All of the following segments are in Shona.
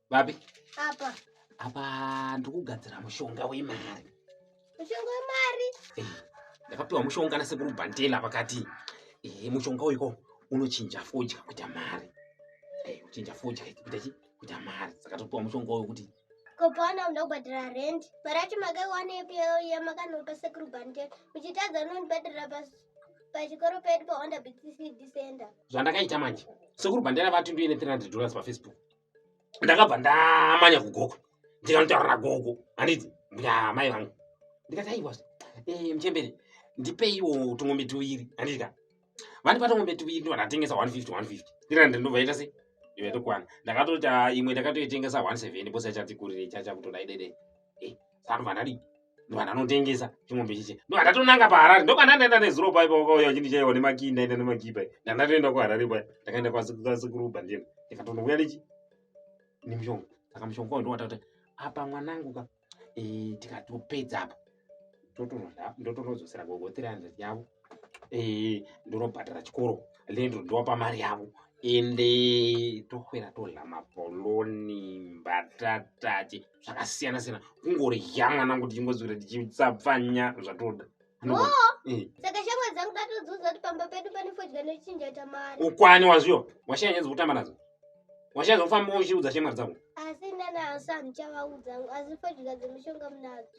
vapi apa ndikugadzira mushonga wemari mushonga wemari eh, ndakapiwa mushonga nasekuru bhantela vakati eh, mushonga uiko unochinja fodya kuita mari eh, uchinja fodya kuita chi kuita mari saka topiwa mushonga uyo kuti kopana unoda kubhadhara rent mari yacho makaiwanepi yamakanopa sekuru bhantela muchitadza unondibhadhara pachikoro pedu pahonda bcd center zvandakaita manje sekuru bhantela vati ndoine 300 dollars pafacebook ndakabva ndamanya kugogo ndikanotaurira gogo handiti mai vangu ndikati aiwa eh, mchembere ndipeiwo tungombe tuviri handitika vandipa tungombe tuviri ndiva ndatengesa 150 150 ndikati ndinobva ita sei ivetokwana ndakatoita imwe ndakatoitengesa 17 bose achatikurire chachakutoda idede eh, saka ndobva ndadii ndobva ndanotengesa chimombe chiche ndobva ndatonanga paharare ndokwandandaenda nezuro pai paukauya uchindi chaiwa nemakii ndaenda nemakii pai ndandatoenda kuharare pai ndakaenda kwasekuruba ndienda ndikatonouya nechi nemushonga saka mushonga wao ndowata kuti apa mwanangu ka eh, tikatopedza apa ndotonodzosera gogo 300 yavo eh, ndonobhadhara chikoro lendo ndowapa mari yavo ende tokwera todla mapoloni mbatatache zvakasiyana siyana kungorya mwanangu tichingoziwira tichitsapfanya zvatoda eh. saka shamwa dzangu datodziudza kuti pamba pedu pane fodya nochinja tamari ukwani wazviyo washaya nyaya dzekutamba nadzo washaya zvekufamba uchiudza shamwa dzangu asi nana asi handichavaudza asi fodya dzemishonga munadzo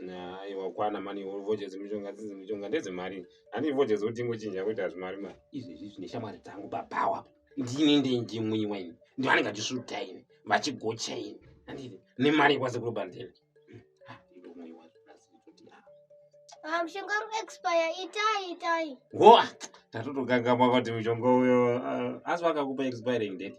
aiwa ukwana mani vodya dzemishonga dzidzi mishonga ndedzemari handi vodya dzekuti ingochinja kuita zvimari mari izvezvi zvine shamwari dzangu babawa ndini ndenje mwenye waini ndivanenge vachisvuta ini vachigocha ini anditi nemari kwase kuri bandele ah, mushonga uri expire itai itai ho ah, tatotokangama kuti mushonga uyo ah, asi vakakupa expiring date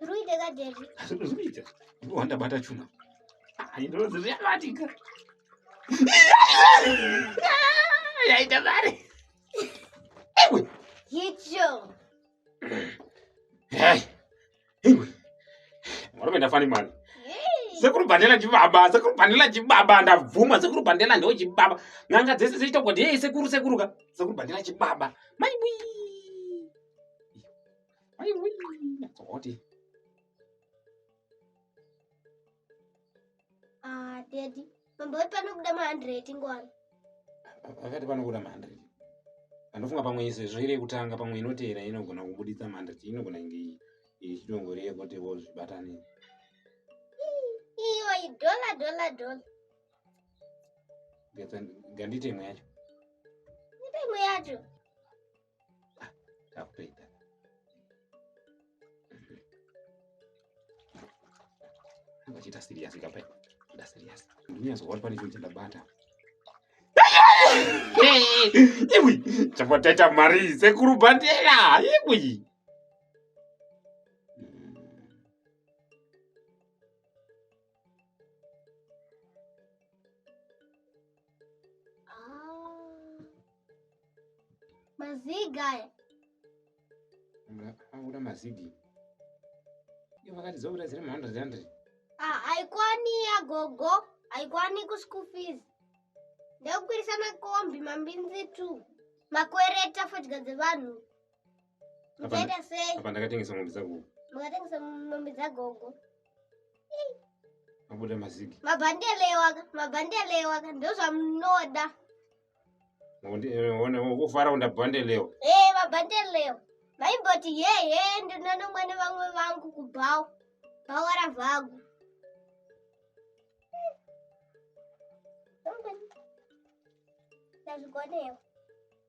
Ruite kaderi. Ruite. Wanda bata chuna. Ayi ndo zvi yakatika. Yayi tabare. Ewe. Yicho. Hey. Murume ndafani mwana. Sekuru Bandela chibaba, sekuru Bandela chibaba ndabvuma sekuru Bandela ndo chibaba. Nanga dzese dzichita kuti hey sekuru sekuru ka. Sekuru Bandela chibaba. Mai bui. Mai bui. Oti. Ah, daddy. Mambo vati panobuda ma 100 ngwani. Vakati panobuda ma 100. Anofunga pamwe iso izvo iri kutanga pamwe inotera inogona kubuditsa ma 100 inogona inge ichitongori yekuti vo zvibatane. Iyo i dollar dollar dollar. Gandite imwe yacho. Gandite imwe yacho. ah, tapedza vachiita serious kapai kuda serious ndinyazoona pane chinhu chandabata iwi chapataita mari sekuru bhandera iwi Ah. Maziga aya. Angura mazigi. Iyo vakati dzokura dziri ma 100 100. Ah, haikwani ya gogo, haikwani ku school fees. Ndekukwirisa makombi mambinzi tu. Makwereta fodya dzevanhu. Zvaita sei? Apa ndakatengesa mombe dzagogo. Makatengesa mombe dzagogo. Mabuda mazigi. Mabhandele waka, mabhandele waka ndozvamunoda. Ngone ukufara unda bhandele. Eh, mabhandele. Maimboti ye ye ndinono mwana vamwe vangu kubhawo. Bhawo ravagu. Ndazvikonewa.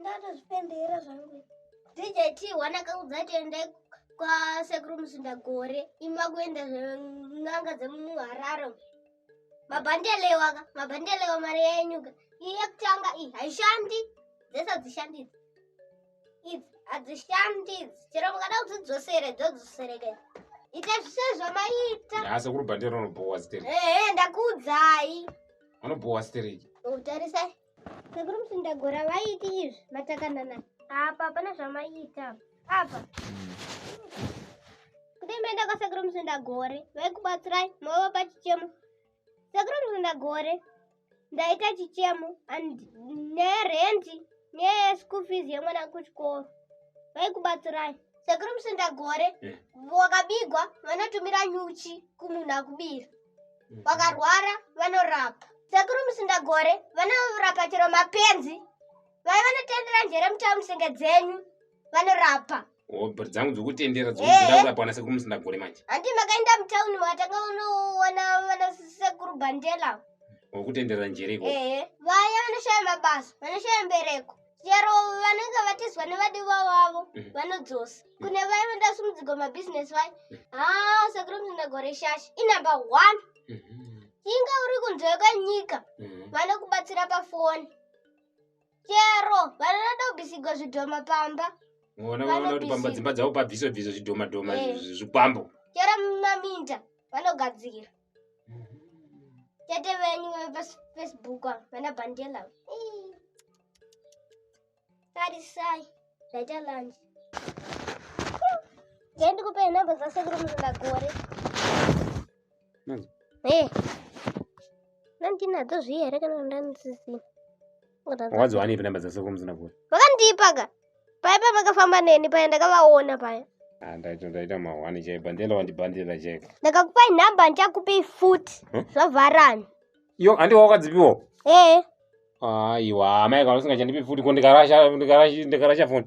ndatozvipembera zvangu dj t one akaudza tiende kwasekuru musinda gore imi vakuenda zven'anga dzemuharare mabhandelewa ka mabhandelewa mari yenyuka iyekutanga iyi haishandi dzese hadzishandidzi idzi hadzishandidzi chero mukada kudzidzosere dzodzisereke ita zvise zvamaita asi kuri bhandero unobhowa stereki ehe ndakuudzai unobhowa stereki utarisai Sekuru Musindagora vaiti izvi matakanana. Apa hapana zvamaiita. Apa. Kudai maenda kwasekuru Musindagore vaikubatsirai mova pachichemo. Sekuru Musindagore ndaita chichemo and nerenti neschool fees yemwana kuchikoro vaikubatsirai. Sekuru Musindagore eh. wakabigwa vanotumira nyuchi kumunhu akubira. vakarwara vanorapa sekuru musindagore vanorapa chero mapenzi vai vanotendera njere mutava musenge dzenyu vanorapa obr oh, dzangu dzokutendera dzokurapaana eh, eh. sekuru musindagore manje handi makaenda mutauni makatanga unoona vana sekuru bandela wokutendera njereko vaya vanoshaya mabasa vanoshaya mbereko chero vanenge vatizwa nevadiwa wavo mm. vanodzosa mm. kune vaye vandasumudzigwa mabhizinesi vaye mm. haa ah, sekuru mzinagore shashi inumber one mm-hmm. inga uri kunze kwenyika mm-hmm. vanokubatsira pafoni chero vanonoda kubisigwa zvidhoma pamba ona vanoona kuti pamba dzimba dzavo pabviswe bviswe zvidhoma dhoma eh. zvikwambo chero mumaminda vanogadzira Tete venyu vefacebook vana bandela tarisai ndaita lunch ngendikupe nhamba dzasekuru musingagore e nandinadzo zviye here kana ndanzizii wadziwanepi namba dzasekuru muzinabhuri vakandiipaka paya paya pakafamba neni paya ndakavaona paya ah, ndaita mahwani chai bandela wandibandela chai ndakakupai nhamba ndichakupei futi zvavharani yo handiwa wakadzipiwo ee aiwa amai kana usingachandipi futi ko ndikarasha ndikarasha foni